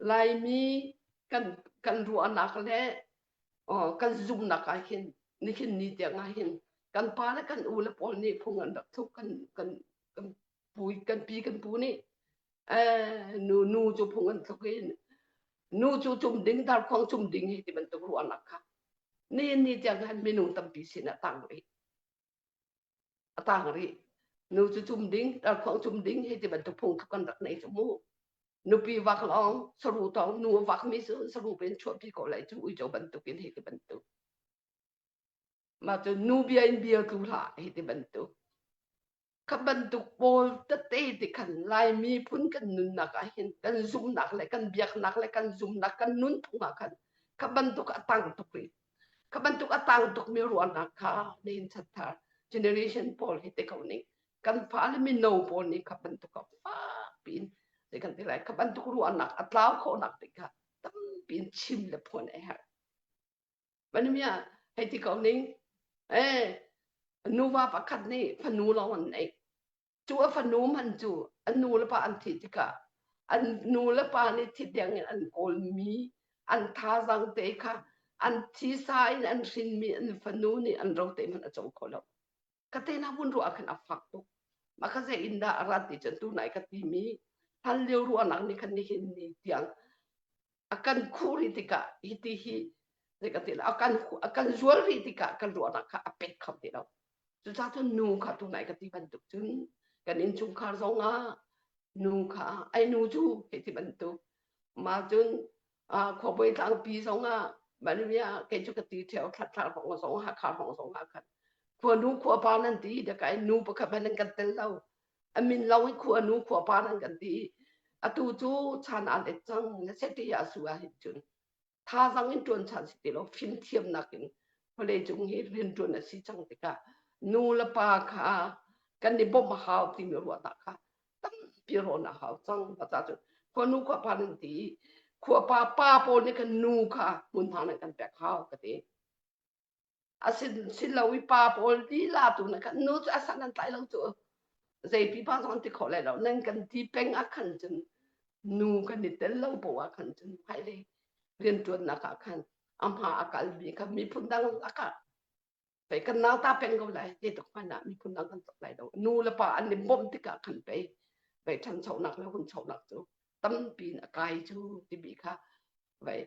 Laimi kan kan ruahnak le uh, kan zumnak ah hin nihin ni tiang ah hin kan pa le kan u le pawl nih phung an rak thuk kan kan kan pu kan pi kan pu nih eh, nu nu cu phung an thuk in nu cu cum ding dar khuang cum ding hi ti bantuk ruahnak kha ni ni tiang khan minung tampi sin ah tang rih a tang rih nu cu cum ding dar khong cum ding hi ti bantuk phung kan rak nei chu mu nupi vak long saru to nu vak mi su saru pen chuat pi ko lai chu ui jo bantuk in hi ti bantuk ma chu nu bia in bia tu la hi ti bantuk kha bantuk pawl tete ti khan lai mi phun kan nunnak ah hin kan zumnak le kan biaknak le kan zumnak kan nun thungah khan kha bantuk atang tuk ri Kha bantuk a tang tukmi ruahnak kha nihin chathar generation pawl hi te ko ning kan fa le mino pawl nih kha bantuk a fak pin te kan ti lai kha bantuk ruahnak a tlau khawhnak te kha tampi in chim le phuan a herh vanimia hei ti ko ning eh nuva pakhat nih fanu lawng an neih cu a fanu man cu a nu le pa an thih tikah an nu le pa nih thi tiang in an kawlmi an thazang te kha an thisa in an hrinmi an fanu nih an ro te hmanh a co kho lo ka tena hun ruah khan a fak tuk ma ka ze in dah a rat ti cun tu nai ka ti mi hlan lio ruahnak ni khan ni hin ni tiang a kan khuh rih tikah hiti hi ka ti lo a kan a kan zual rih tikah kan ruahnak kha a pet kho ti lo cucaah cun nu kha tunai ka ti bantuk cun kan innchungkhar zong ah nu kha ai nu cu hi ti bantuk ma cun khuabawi tlangpi zong ah manvia kei cu ka ti theo thlatlar hong zong hakha hong zong ah khan khua nu khua pa nan ti da kai nu pakhat hmanh an kan tel lo a min lo in khua nu khua pa nan kan ti atu cu chan an et cang na seti ya su a hin chun tha zang in tuan chan si ti lo fim thiam nak in kole chung hi rian tuan a si chang tika nu le pa kha kan ni bom hau ti mi ruwa ta kha tam pi ro na hau chang pa ta chu khua nu khua pa nan ti khua pa pa po ni kan nu kha mun tha nan kan pek hau ka ti Asilo i pa pawl lila tu na kan nu cu a san an tlai lo cu zeipi pa zong an ti khawh lai lo nan kan ti peng ah khan cun nu kan i tel lo poh ah khan cun hmailei rianṭuannak ah khan a hma a kalmi kha miphun dang lakah pei kan nau ta peng ko lai zeituk hmanh ah miphun dang kan tluk lai lo nu le pa an i bawmh tikah khan pei pei ṭhanchonak le hunchonak cu tampi in a kai cu timi kha vai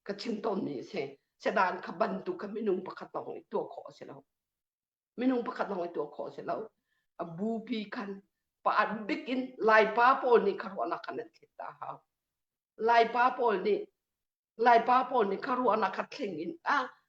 ka chin ton ni se se dan ka ban tu ka minung pakhat tong i tua kho se lo minung pakhat tong i tua kho se lo a bu pi kan pa an bik in lai pa pawl nih kharuana kan an thit ta ha lai pa pawl nih lai pa pawl nih kharuana ka thling in a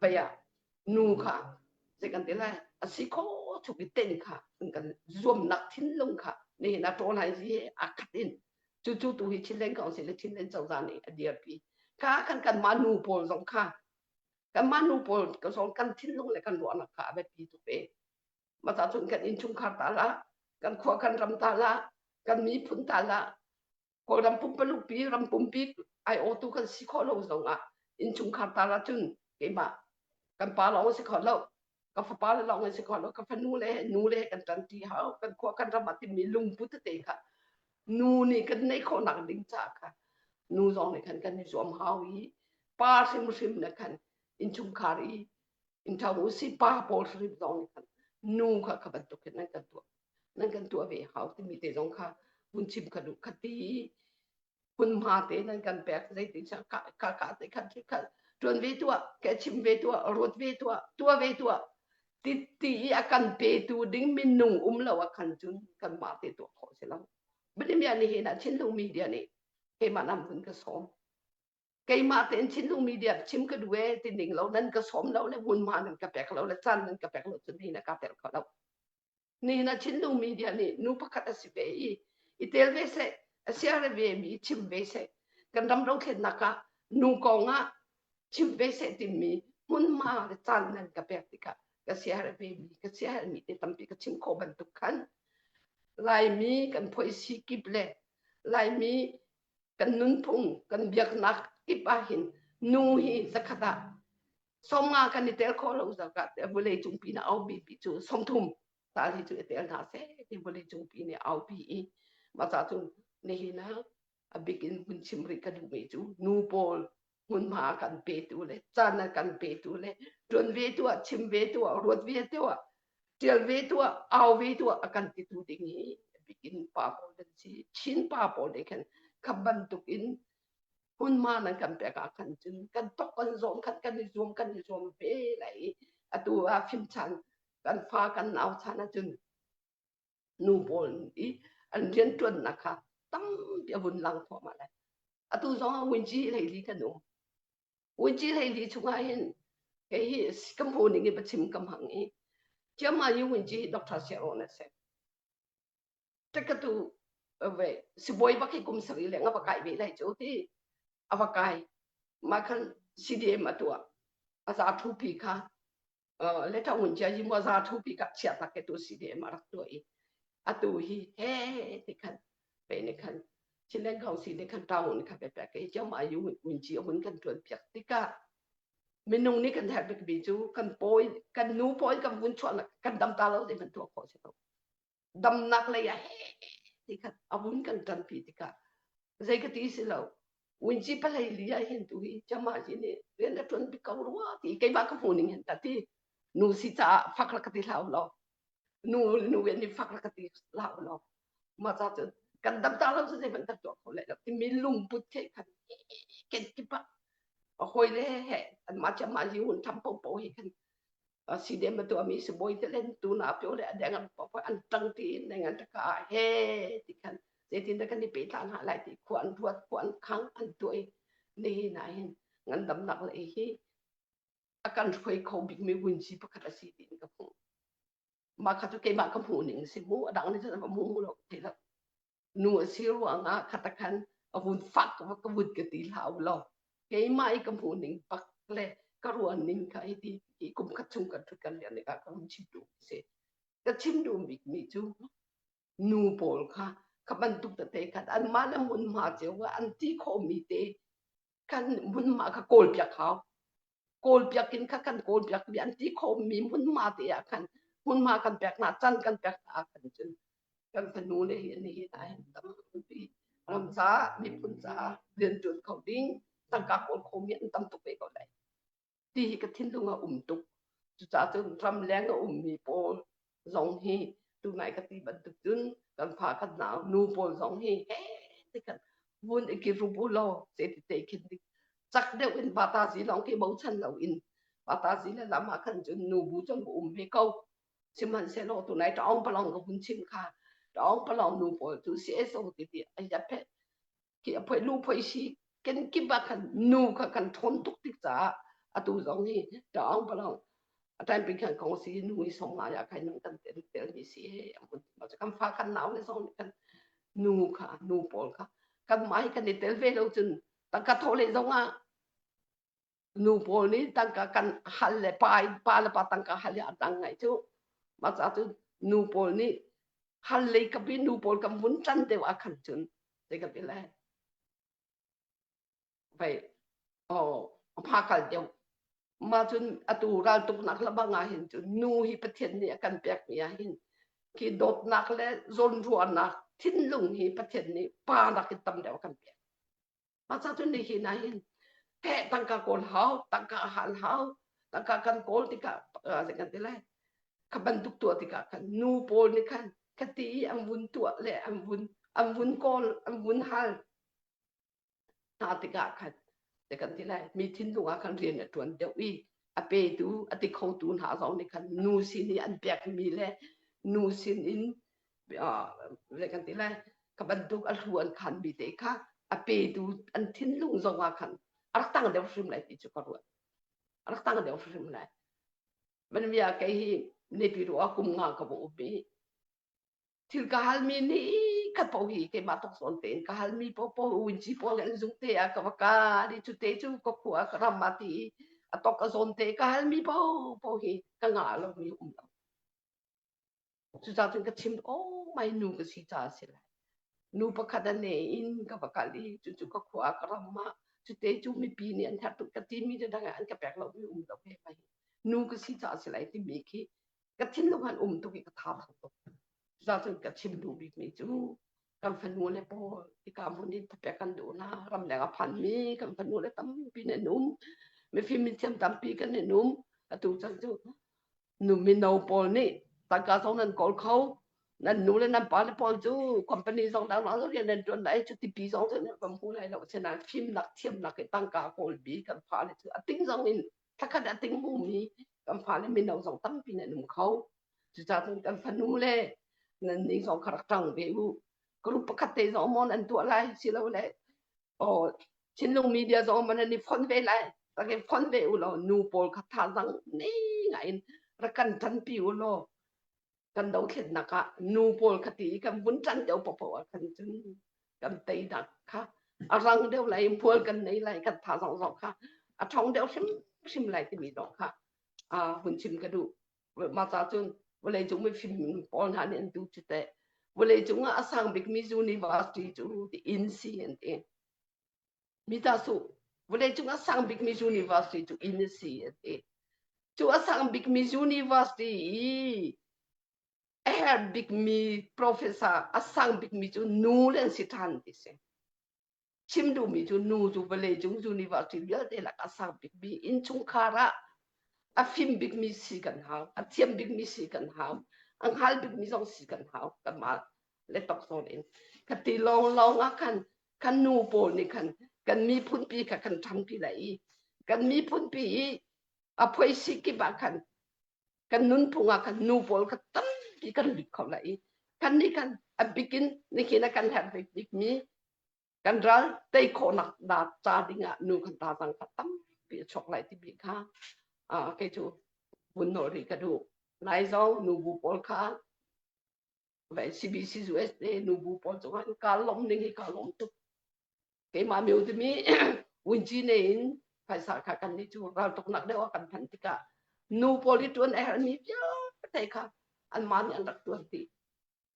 paya nu kha ze kan te lai asi kho thuk i ten kha an kan zuam nak thin lung kha ne na to lai zi akhat in chu chu tu hi chin leng council le chin leng chauza ni a dir pi kha kan kan ma nu pawl zong kha kan ma nu pawl ka zong kan thin lung le kan ruah nak kha abe pi tu pe ma ta chun kan in chung khar ta la kan khua kan ram ta la kan mi phun ta la kawl ram pumpalukpi ram pumpi ai aw tu kan si kho lo zongah inchungkhar tal ahcun keimah kan pa lawng si kho lo ka fapa le lawng si kho lo ka fanu le nu le kan tanti hau kan khua kan ram ah timi lungpu tete kha nu nih kan nei khawh nak ding ca kha nu zong nih khan kan i zuam hau i pa hrim hrim ne khan inchungkhar i in thau si pa pawl hrim zong nih khan nu kha ka bantuk hin an kan tuah nan kan tuah ve hau timi te zong kha hun chim kha duh khati hmunhma te nan kan pek zeitin sa ka ka ka te khan khi khan tuan ve tuah ke chim ve tuah ruat ve tuah tua ve tuah ti ti i a kan pe tu ding minung um lo a kan cun kan ma te tuah khawh si lo bali mia ni he na chin lo media ni he ma nam hun ka som keimah tein thinlung media chim ka duhe ti ning lo nan ka sawm lo le hmunhma nan ka pek lo le chan nan ka pek lo cun hi na ka tel ko lo ni na thinlung media nih nu pakhat a si ve i i tel ve se a siare ve mi chim ve se kan ram dothlennak ah nu kong ah chim ve se timi hmunhma le caan nan ka pek tikah ka siare ve mi ka siare mi te tampi ka chim kho bantuk khan laimi kan phoisi kip le laimi kan nunphung kan biaknak kip ah hin nu hi zakhat ah somnga kan i tel kho lo zakah te vawlei cung pi na au bi pi cu songthum ta hi cu i tel hna se ti vawlei cung pi ni au pi i ma cha cu nihin a bikin hun chim ri ka duh mi cu nu pawl hmunhma a kan petu le caan a kan petu le ṭuan ve tu ah chim ve tu ah ruat ve tu ah ṭial ve tu ah au ve tu ah a kan ti tu ding i bikin pa pawl kan si chin pa pawl le khan kha bantuk in hmunhma nan kan pek ah khan cun kan tok kan zawm khan kan i zuam kan i zuam ve lai atu a fim chan kan fa kan nau chan ah cun nu pawl i an rianṭuannak kha tampi a vun lang thluahmah lai. Atu zong ah Winci Hleili kan um. Winci Hleili chungah hin kei hi kan phu ning i biachim kam hang i chiamma i Winci Dr. Sharon a si. Ṭekatu ve sibawi bak hi kum sari le nga va kai ve lai cu ti a va kai. Ma khan CDM a tuah a za thu pi kha le tha un chia ji mo za thu pi kap chia tak ke tu si de ma rak to i atu hi he te khan pe ne khan chilen khong si ne khan ta hun kha pe pe ke chau ma yu un chi hun kan tuan piak tika minung ni kan thar bik bi chu kan poi kan nu poi kan vun chon kan dam ta lo de man to kho se to damnak lei ah he tikhat a vun kan ṭanpi tikah zei ka ti si lo winci palai li ah hin tu hi chama ji nih rian a ṭuan pi ko rua ti keimah ka hmuning hin ta ti nu si caah fak la ka ti hlau lo nu nu en i fak la ka ti hlau lo ma ca cu kan dam ta lo cu zei ban tak tuah kho lai lo ti min lungput thei khan ken kipa a hoi le he an ma chama ji hun tham po po hi khan Asiden betu ami sibawi te len tu na pyo le adeng an papa an tang ti in deng an taka he ti kan zeitin da kan i pe tlan ha lai ti khu an ruat khu an khang an tuai ni na hin ngan dam nak le hi akan hroi kho big mi win si pakhat asi ti in ka hmu ma kha tu keimah ka hmu ning si mu adang ni zan mu mu lo te lo nu a si ruangah khata khan a vun fak ka vun ka ti hlah lo keimah i ka hmuh ning pak le ka ruan ning kha i ti i kum khat chung kan ṭhut kan lian ka ka hung chim duh si ka chim duh bik mi cu nu pawl kha kha bantuk tete khat an man a mun ma cio an ti khawmi te kan hmunma kha kawlpiak hau kawlpiak in kha kan kawlpiak mi an ti khawmmi hmunma te ah khan hmunma kan pek hna can kan pek hna kan cun kan fanu le hi ni hi na hen tam pi ram ca miphun ca rian ṭuan kho ding tangka kawl khomi an tam tuk ve ko lai ti hi ka thinlung a um tuk cucaah cun ramleng a ummi pawl zong hi tunai ka ti bantuk cun kan fa kan nau nu pawl zong hi he ti kan vun i kirup u law se ti te khin dik chak deuh in pata si lawng khi bochan lo in pata si le lama khan cun nu bu chung um ve ko sihmanhsehlaw tunai taong palong ka hun chim kha taong palong nu pawl cu CSO ti ti ai phe khi a phoih lu phoih si ken kip ah khan nu kha kan thawn tuk tik caah atu zong hi ṭaang palang a time pin khan kong si nu i song nga ya khan nang kan tel tel ni si he a mun ma kan fa kan nau le song kan nu kha nu pawl kha kan mai kan i tel ve lo cun tangka tho le zong ah nu pawl nih tangka kan hal le pa in pa le pa tangka hal le a dang ngai cu maca cu nu pawl nih hal lei ka pi nu pawl kan vun tan deuh a khan cun te ka pi le vậy oh pha kal deuh ma cun atu ral tuk nak la bang ah hin cun nu hi pathian nih a kan pek mi ah hin khi dawtnak le zawnruahnak thinlung hi pathian nih pa nak in tam deuh kan pek Pacha tu ni hin ahin he tangka kawl hau tangka hal hau tangka kan kawl tikah se kan ti lai ka bantuk tua tikah khan nu pawl ni khan ka ti an vun tua le an vun an vun kawl an vun hal hna tikah khan te kan ti lai mi thin lungah khan rian a tuan deuh i a petu a ti khotu hna zong nih khan nu sin i an pek mi le nu sin in vale kan ti lai ka bantuk a hlu an khan bi te kha a petu an thinlung zongah khan arak tang deuh hrim lai ti chu ka ruat arak tang deuh hrim lai man bia kai hi ne pi ru akum nga ka bo bi thil ka hal mi ni ka po hi ke ma tok son te ka hal mi po po un chi po gan zung te a ka va ka di chu te chu ko khu a ram ma ti atok a zon te ka hal mi po po hi ka nga lo mi um lo Cucaah cun ka chim, oh, mai nu ka si caah a si lai. Nu pakhat a ne in ka va kal i cucu ka khua ah ka ram ah cute cu mipi nih an herh tuk ka timi te dang an ka pek lo mi um lo ve mai nu ka si caah a si lai timi khi ka thinlung han um tuk i ka thau tuk cucaah cun ka chim duh bikmi cu kan fanu le pawl ika mun in tapek kan duh na ramleng a phan mi kan fanu le tampi nen um mifim min thiam tampi kan nen um atu chan cu nu mino pawl nih tangka zong nan kawl kho nan nu le nan pa le pawl cu company zong dang lo rian nan tuan lai cu tipi zong cu nan hmu lai lo senan fim nak thiam nak i tangka kawl bi kan pa le cu a ting zong in thakhat a ting hmumi kan fale mino zong tampi nan um kho cucaah kan fanu le nan ning zong kha rak ṭang ve u group pakhat te zong mon an tuah lai silo le oh thinlung media zong man an i phon ve lai takin phon ve u law nu pawl kha thazang nei ngain ra kan ṭanpi u law kan dothletnak ah nu pawl kha ti kan vun ṭan deuh popo ah khan cun kan tei dak kha a rang deuh lai mual kan nei lai kan tha zong zong kha a thong deuh hrim hrim lai timi dong kha a hun chim ka duh ma ca cun vawlei cung mi fim pawl hna nih an tu cu te vawlei cung ah a sang bikmi university cu the inc an ti mi ta su vale chung a sang bik mi university chu in si a ti chu a sang bik mi university i a her bik mi professor a sang bik mi chu nu le si than ti si chim du mi chu nu chu vale chung university vialte lak a sang bik mi in chungkhar ah a fim bik mi si kan hau a thiam bik mi si kan hau a ngal bik mi zong si kan hau kama le tok son in ka ti long long a kan kan nu pawl nih khan kan miphunpi kha kan ṭhangpi lai i kan miphunpi i a phoisi kip ah khan kan nunphung ah khan nu pawl kha tampi kan lut kho lai i kannih khan a bikin nihin a kan herhbik bikmi kan ral tei khawhnak da ca dingah nu kan tazang kha tampi a chok lai tibi kha kei cu vun nolri ka duh nai zong nu bu pawl kha Ve CBC USA nubu pawl cung an ka lom ning hi ka lom tuk. Keimah meu timi winji ne in phaisa kha kan ni chu ral tuk nak deuh kan than tikah nu pawl i tuan er ni pia thai kha an man an rak tuan ti.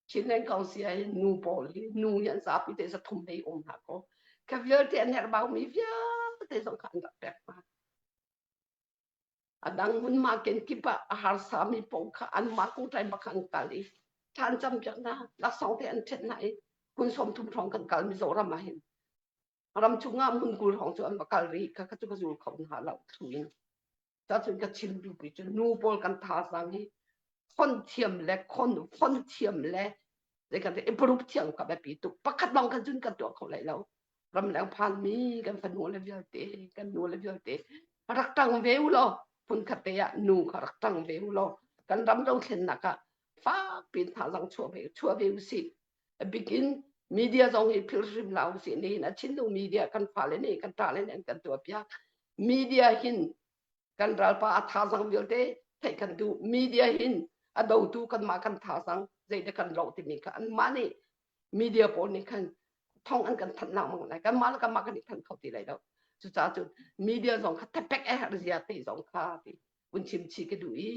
Chinland Council ai nu pawl hi nu yan zapi te sa thum nei om ha ko. Ka vialte an her bau mi vialte zong kan rak pek ma. A dang hmunmah kenkip ah a harsami pawng kha anmah kungṭai bak an kal i thlan cam piak hna laksawng te an ṭhet hna i kun sawm thum hrawng kan kal Mizoram ah hin ram chungah mun kul hrawng cu an va kal rih ka ka cu ka zul kho hna lo thu in cacun ka chim dupi cu nu pawl kan thazang hi khon thiam le khon khon thiam le Zei kan te improve thiang ka biapi tu pakhat bang kan cun kan tuah kho lai lo. Ramleng phan mi kan fanu le vialte kan nu le vialte rak tang ve u lo phun khatte ah nu kha rak tang ve u lo kan ram do thlen naka fak pin tha zang chua ve chua ve u si a bikin media zong hi phil hrim la u si ni na chin du media kan fa le ni kan ta le ni kan tua pia media hin kan ralpa a tha zang vialte theih kan duh media hin a dotu kanmah kan tha zang zeite kan lo timi kha anmah nih media pawl nih khan thong an kan thanh nak mang lai kanmah le kanmah kan i thanh kho ti lai lo cucaah cun media zong kha tepek a herh zia ti zong kha ti kun chim chi ka duh i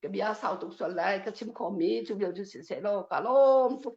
ka bia sau tuk sual lai ka chim khomi cu vial cu si se law ka lawm tuk